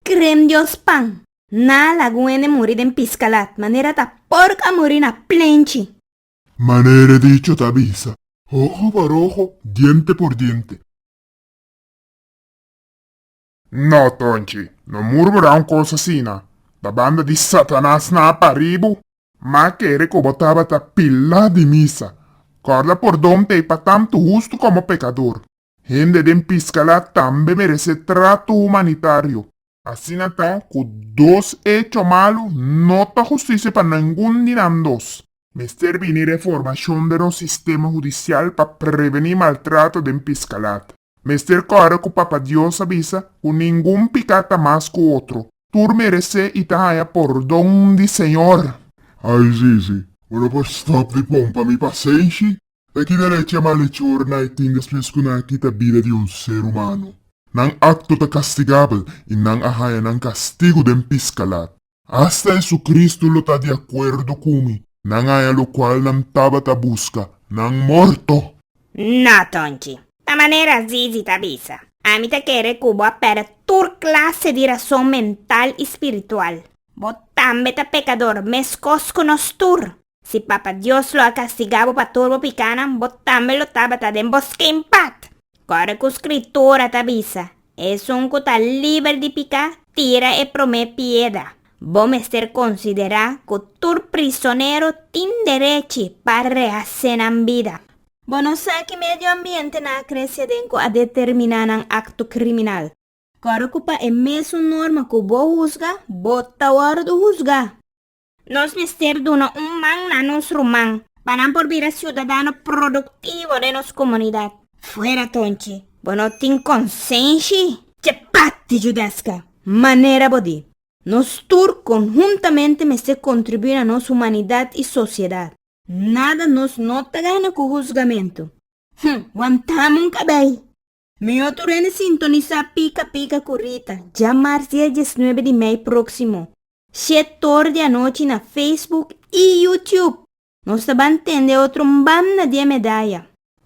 Krem Dios pan. Na laguene muri den piskalat. Manera ta pork a muri na plenchi. Manera e dicho ta bisa. Oho por oho, diente por diente. No tonchi, no mur bo da un cos asina. Ta banda di Satanas na paribu. Ma kere cu bo tabata pila di misa. Corda pordon t'ei pa tanto hustu como pecador. Hende den Piscalá tambe merece trato humanitario. Asina ta cu dos hecho malu no ta justicia pa nengun di nan dos. Mester bini reformacion den nos sistema judicial pa preveni maltrato den Piscalá. Mester core cu Papa Dios a bisa cu ningun pica ta mas cu otro. Tur merece y ta haya pordon di Señor. Ay Zizi, bo no por stop di pompa mi pasenshi? E ki derecha malechor nai tin despues ku nan a kita bida di un ser humano? Nan akto ta kastigabel i nan a haña nan kastigu den piskalat. Asta Jesucristo lo ta di akuerdo ku mi, nan haña lokual nan tabata buska, nan morto! No, Tonchi! Ta manera Zizi ta bisa. Ami ta kere ku bo a pèrdè tur klase di rason mental i spiritual. Bo tambe ta pekador, meskos ku nos tur. Si Papa Dios lo a kastigá bo pa tur bo pikánan, bo tambe lo tabata den bo skin pat! Kòrda ku Skritura ta bisa, Esun ku ta liber di piká, tira e promé pieda. Bo mester konsiderá ku tur prisonero tin derechi pa rehasé nan bida. Bo no sa ki medio ambiente nan a krese den ku a determiná nan akto kriminal. Kòrda ku pa e mesun norma ku bo husga, bo ta wòrdu husgá. Nos mester duna un man na nos ruman pa nan por bira siudadano produktivo den nos komunidat. Fuera tonchi, bo no tin konsenshi? Chapati Judesca, manera bo di, nos tur konhuntamente mester kontribuí na nos humanidat i sosiedat. Nada nos no ta gana ku husgamentu. Hm, wantá-m un kabei! Mihó tur hende sintonisá pika pika ku Rita, dja mársia diesnuebe di mei próksimo, shetor di anochi na Facebook i YouTube. Nos ta ban tende otro mbam na di e medaya.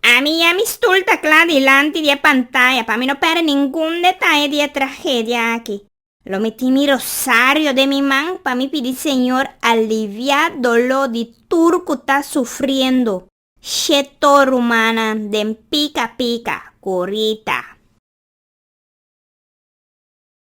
Ami ya mi stul ta kla dilanti di e pantaya pa mi no pèrdè ningun detaye di e tragedia aki. Lo mi tin mi rosario den mi man pa mi pidi Señor aliviá doló di tur ku ta sufriendo. She to rumannan den pika pika, kurita.